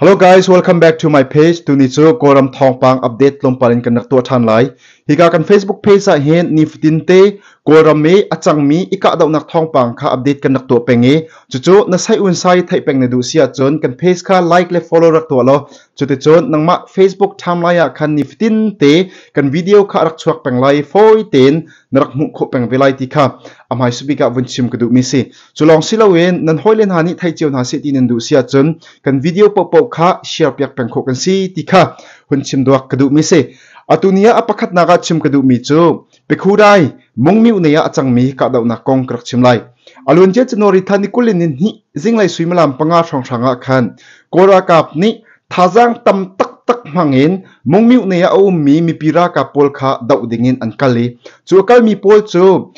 Hello guys, welcome back to my page. Tuni cu Kawlram thawngpang update tlawmpal in kan rak tuah ṭhan lai. Hika kan Facebook page ah hin nifatin te Kawlram i a cangmi i kahdohnak thawngpang kha update kan rak tuah peng i cucu na sai un sai theih peng na duh si ahcun kan page kha like le follow rak tuah law cuticun nangmah Facebook timeline ah khan nifatin te kan video kha rak chuak peng lai. Fawi tein na rak hmuh khawh peng ve lai ti kha a hmaisabik bik ah vun chim ka duhmi si cu lawng si loin nan hawile hna nih thei cio hna seh ti nan duh si ahcun kan video pohpoh kha share piak peng khawh kan si ti kha hun chim duak ka duhmi si atu ni ah a pakhatnak ah chim ka duhmi cu Pekudai mungmiu nei ah a cangmi kahdohnak kong ka rak chim lai alunje chanori thani kulin in hi zinglei suimalam panga hrawnghrang ah khan kora kap nih Thazaang tam taktak hmangin mungmih nei ah a ummi mipi ralkap pawl kha doh dingin an kal i cu a kalmi pawl cu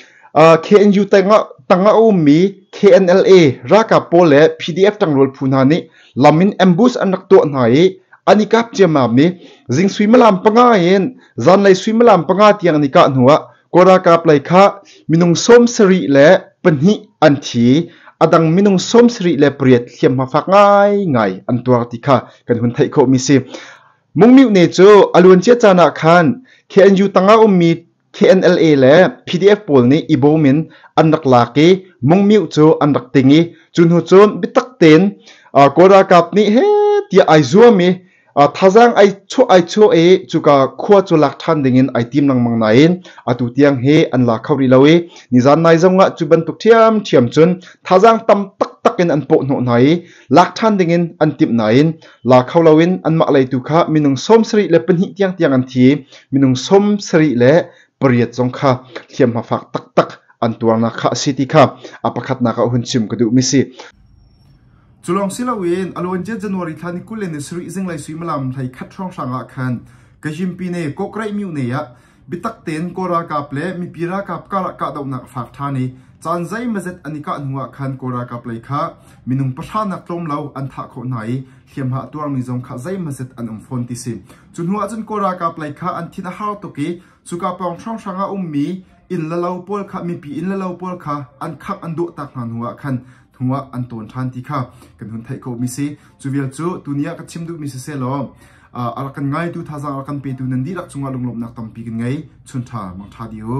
KNU tangah tangah a ummi KNLA ralkap pawl le PDF tangrual phu hna nih lam in ambush an rak tuah hna i an i kap ciammam i jing suimalam panga in zanlei suimalam panga tiang an i kah hnu ah Kaw ralkap lei kha minung sawm sarih le pahnih an thi. A dang minung sawm sarih le pariat hliamhma fak ngaingai an tuar ti kha kan hun theih khawh mi si. Mungmiu ne cu aluancia caan ah khan KNU tanga ummi KNLA le PDF pawl nih i bawm in an rak lak i mungmiu cu an rak ting i cu hnu cun bitak tein Kaw ralkap nih he tiah ai zuam i Thazaang ai chuah ai chuah i cuka khua cu lak ṭhan dingin ai tim lengmang nain atu tiang hi an la kho rih lo i nizan nai zongah cu bantuk ṭhiamṭhiam cun thazaang tam taktak in an pawh hnawh hna i lak ṭhan dingin an timh nain la kho loin anmah lei tu kha minung sawm sarih le pahnih tiangtiang an thi i minung sawm sarih le pariat zong kha hliamhma fak taktak an tuarnak kha a si ti kha a pakhatnak ah hun chim ka duhmi si. Cu lawng si loin a lawn cia January thla ni kul le ni sarih zinglei suimilam hleikhat hrawnghrang ah khan Kazhimpine Kawkreih Myone ah biatak tein Kawl ralkap le mipi ralkap karah kahdohnak a fak ṭhan i caan zeimazet an i kah hnuah khan Kawl ralkap lei kha minung pahranak tlawm lo an thah khawh hna i hliamhma a tuarmi zong kha zeimazet an um fawn ti si. Cu hnuah cun Kawl ralkap lei kha an thin a hau tuk i cuka pawng hrawnghrang ah a ummi inn le lo pawl kha mipi inn le lo pawl kha an khangh an duah tak hna hnuah khan hnuah an tawn ṭhan ti kha kan hun theih khawhmi si. Cu vial cu tuni ah ka chim duhmi si selaw a rak kan ngaitu thazang a rak kan petu nan dihlak cungah lunglawmhnak tampi kan ngei. Chun ṭha mang ṭha di u.